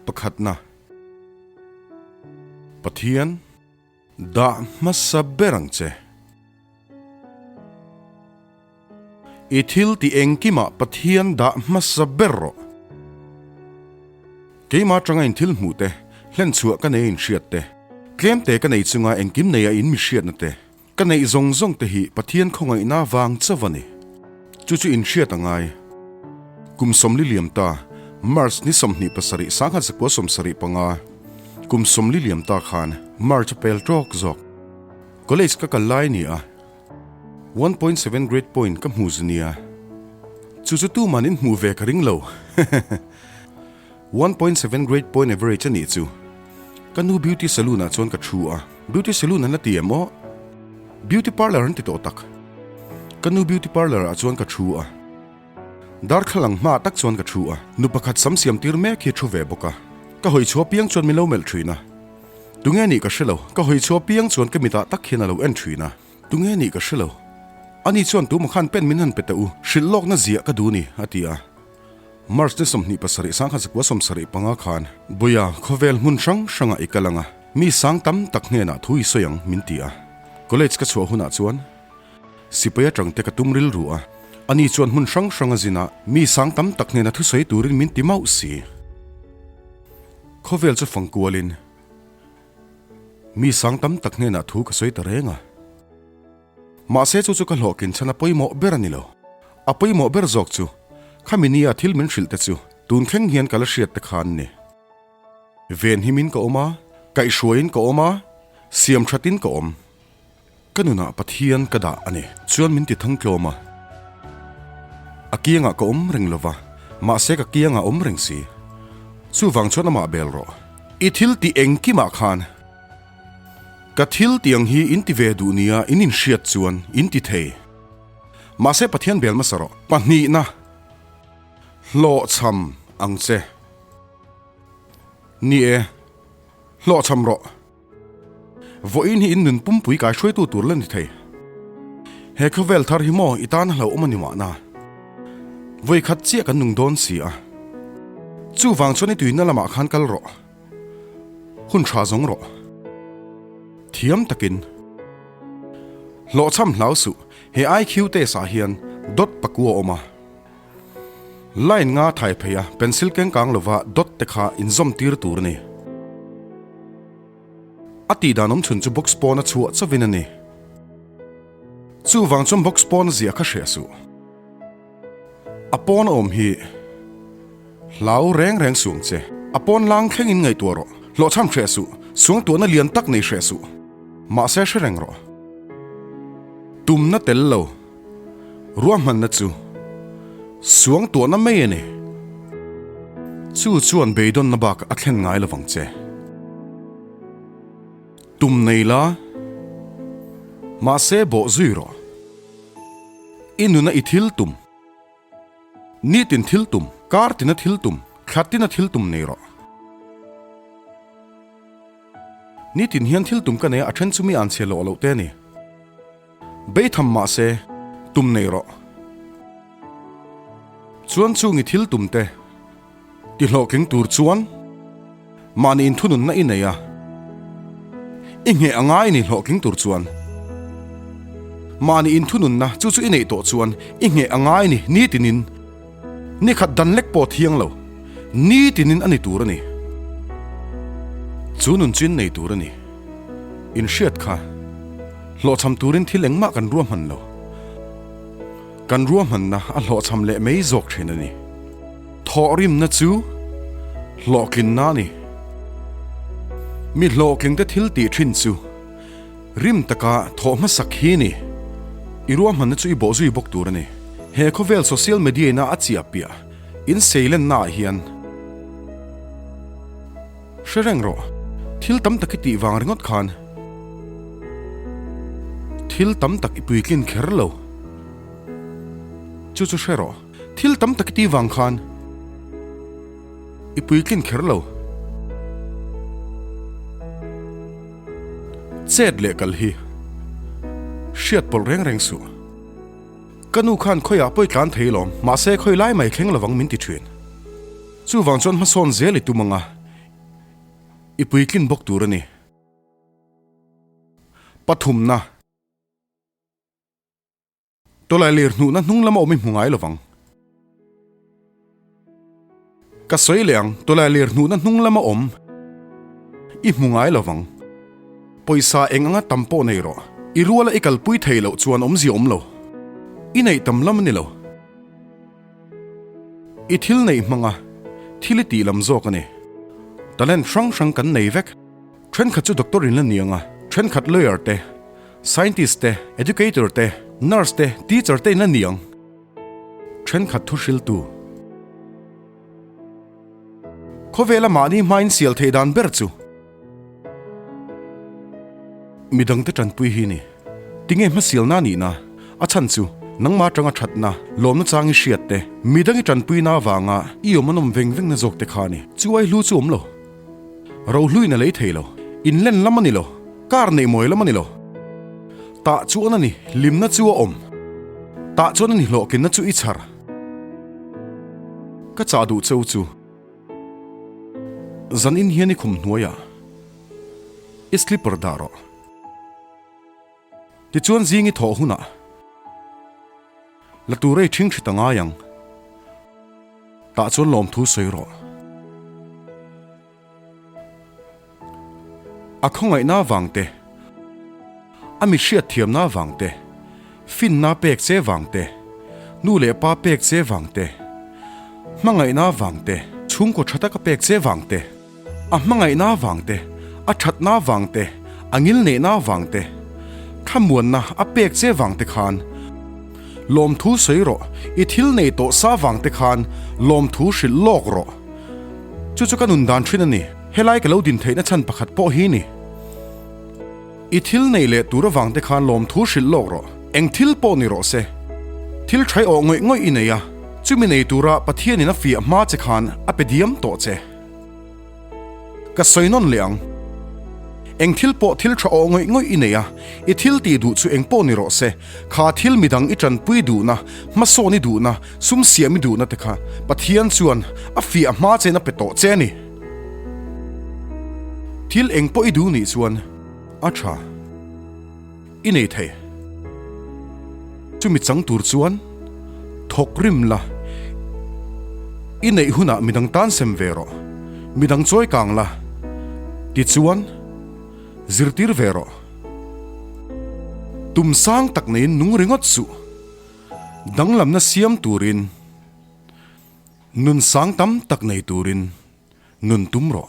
Pakhatna, Pathian. Dah hmasa ber ang che. I thil ti engkimah Pathian dah hmasa ber rawh. Keimah atanga inthil hmuh te, hlenchhuah ka neia inhriat te, tlemte ka nei chunga engkim neia in mihriatna te, ka neih zawng zawng te hi Pathian khawngaihna vang chauh a ni. Chu chu in hriat a ngai. Kum sawmli liam ta, March ni sawmhnih pasarih sangha zakua sawmsarih panga kum sawmli liam ta khan March a pel tawk zawk. College ka kal lai nia. One point seven grade point ka hmu znia. Chu chu tuman in hmuh ve ka ring lo. One point seven grade point average a nih chu. Ka nu beauty saloon ah chuan ka thu a. Beauty saloon an la ti em aw? Beauty parlour an ti tawh tak. Ka nu beauty parlour ah chuan ka thu a. Darthlalang ang hma ah tak chuan ka thu a. Nu pakhat sam siam tir mek hi a thu ve bawk a. Ka hawi chhuah piang chuan min lo melh thin a. Tunge nih ka hre lo. Ka hawi chhuah piang chuan ka mitah tak hian a lo en thin a. Tunge nih ka hre lo. Ani chuan tuma khan pen min han pe teh u, hrilh lawkna ziah ka duh a ni, a ti a. March ni sawmhnih pasarih sang kha zakua sawmsarih panga khan Buia khawvel hmun hrang hrangah i kal ang a, mi sang tam tak hnenah thu i sawi ang min ti a. College ka chhuah hunah chuan sipai atang te ka tum rilru a, ani chuan hmun hrang hranga zinah mi sang tam tak hnena thusawi turin min ti mauh si. Khawvel chu fang kualin mi sang tam tak hnenah thu ka sawi ta reng a. Mahse chu chu ka hlawhkin chhan a pawimawh ber a ni lo. A pawimawh ber zawk chu khami nia thil min hrilh te chu tun thleng hian ka la hriat te kha an ni. Ven him in ka awm a, kaih hruai in ka awm a, siam that in ka awm. Ka nunah Pathian ka dah a ni chuan min ti thang tlawm a. A kiangah ka awm reng lo va, mahse ka kiang a awm reng si. Chuvang chuan amah bel rawh. I thil ti engkimah khan. Ka thil tiang hi in ti ve duh nia in inhriat chuan in ti thei. Mahse Pathian bel masa rawh. Pahnihna, Hlawhchham ang che. Ni e, hlawhchham rawh. Vawiin hi in nun pumpui kai hruaitu tur la ni thei. He khawvel thar hi maw i tana hlauhawm a ni mahna, vawikhat chiah kan nung dawn si a. Chuvang chuan i tuihna lamah khan kal rawh. Hun tha zawng rawh. Thiam takin. Hlawhchham hlau suh. He IQ test ah hian dot paku a awm a. Line nga thai phei a, pencil kengkang lova dot te kha inzawm tir tur a ni. A tih dan awmchhun chu box pawn a chhuah chauh in a ni. Chuvang chuan box pawn ziah kha hreh suh. A pawn awm hi hlau reng reng suam che. A pawn lang thleng in ngaihtuah rawh. Hlawhchham hreh suh. Suang tuahna lian tak nei hreh suh. Mahse hre reng rawh. Tumna tel lo. Ruah hmanna chu suang tuahna mai a ni. Chu chuan beidawnna bak a thlen ngai lo vang che. Tum nei la, mahse bawh zui rawh. I nuna i thil tum. Nitin thil tum, kar tina thil tum, thla tina thil tum nei rawh. Nitin hian thil tum ka nei a, a then chu mi an chhe lawh loh te a ni. Bei tham mah se, tum nei rawh. Chuan chungi thil tumte ti hlawh keng tur chuan mahni in thununna i nei a, i ngheh a ngai ni hlawh keng tur chuan mahni in thununna chu chu i neih tawh chuan i ngheh a ngai ni nitinin, Ni khat dan lek pawh thiang lo ni tinin a ni tur a ni. Chu nun chin nei tur a ni. In hriat kha hlawhchham turin thil engmah kan ruahman lo. Kan ruahmanna a hlawhchham leh mai zawk thin a ni. Thawh rimna chu hlawhtlinna a ni. Mi hlawhtlingte thil tih thin chu. Rim taka thawh hmasak hi ni. I ruahmanna chu i bawh zui bawk tur a ni. He khawvel social media ina a chiah piah in seilennaah hian hre reng rawh. Thil tam tak i tih vang ringawt khan thil tam tak i puitlin kher lo. Chu chu hre rawh. Thil tam tak i ti vang khan i puitlin kher lo. Chet leh kal hi hriat pawlh reng reng suh. Ka nu khan khawi ah pawih tlan thei alawm, mahse khawi lai mai thleng lovang min ti thin. Chu vang chuan hmasawn zel i tum ang a, i puitlin bawk tur a ni. Pathumna. Tawlai lir hnuhna hnung lama awm i hmu ngai lo vang. Ka sawi leh ang, tawlai lir hnuhna hnung lama awm i hmu ngai lo vang. Pawisa eng anga tam pawh nei rawh, i ruala i kalpui thei loh chuan awmzia awm lo, i neih tam lam a ni lo. I thil neih hmanga thil i tih lam zawk a ni. Talent hrang hrang kan nei vek, Thenkhat chu doctor in la ni ang a, thenkhat lawyer te, scientist te, educator te, nurse te, teacher te in la ni ang. Thenkhat thu hriltu. Khawvela mahni hmain sial theih dan ber chu. Midang te tanpui hi ni. Tinge hma sialna nihna, a chhan chu, nangma atanga thatna, lawmna chang i hriat te, midang i tanpuina avanga i awm an awm veng vengna zawk te kha a ni. Chu ai hlu chu awm lo. Rohluin a lei thei lo. In len lam a ni lo. Car neih mawi lam a ni lo. Tah chuan a ni. Limna chu a awm. Tah chuan a ni. Hlawhkina chu i chhar. Ka chah duh cheu chu. Zan in hian i khum hnuaiah i slipper dah rawh. Tichuan zing i thawh hunah la tur ei thingthi ta ngai ang. Tah chuan lawmthu sawi rawh. A khawngaihna vang te, a mi hriat thiamna vang te, finna pek che vang te, nu leh pa pek che vang te, hmangaihna vang te, chhungkaw tha taka pek che vang te, A hmangaihna vang te, a thatna vang te, a ngil neihna vang te, thlamuanna a pek che vang te khan lawmthu sawi rawh, i thil nei tawh sa vang te khan lawmthu hrilh lawk rawh. Chu chu ka nun dan thin a ni. Helai ka lo din theihna chhan pakhat pawh hi ni, i thil nei leh tur avang te khan lawmthu hrilh lawk rawh, eng thil pawh ni rawh se. Thil thaih awh ngawih ngawih i nei a, chumi nei tura Pathianin a fiah hma che khan a pe diam tawh che. Ka sawi nawn leh ang. Eng thil pawh thil tha aw ngawih ngawih i nei a, i thil tih duh chu eng pawh ni rawh se, kha thil midang i tanpui duhna, hmasawn i duhna, sum siam i duhna te kha Pathian chuan a fiah a hma chen a pe tawh che a ni. Thil eng pawh i duh nih chuan a tha. I nei thei. Chumi chang tur chuan thawk rim la. I neih hunah midang tan sem ve rawh. Midang chawi kang la. Tichuan, zirtir ve rawh. Tum sang tak neiin nung ringawt suh. Danglamna siam turin, nun sang tam tak nei turin nun tum rawh.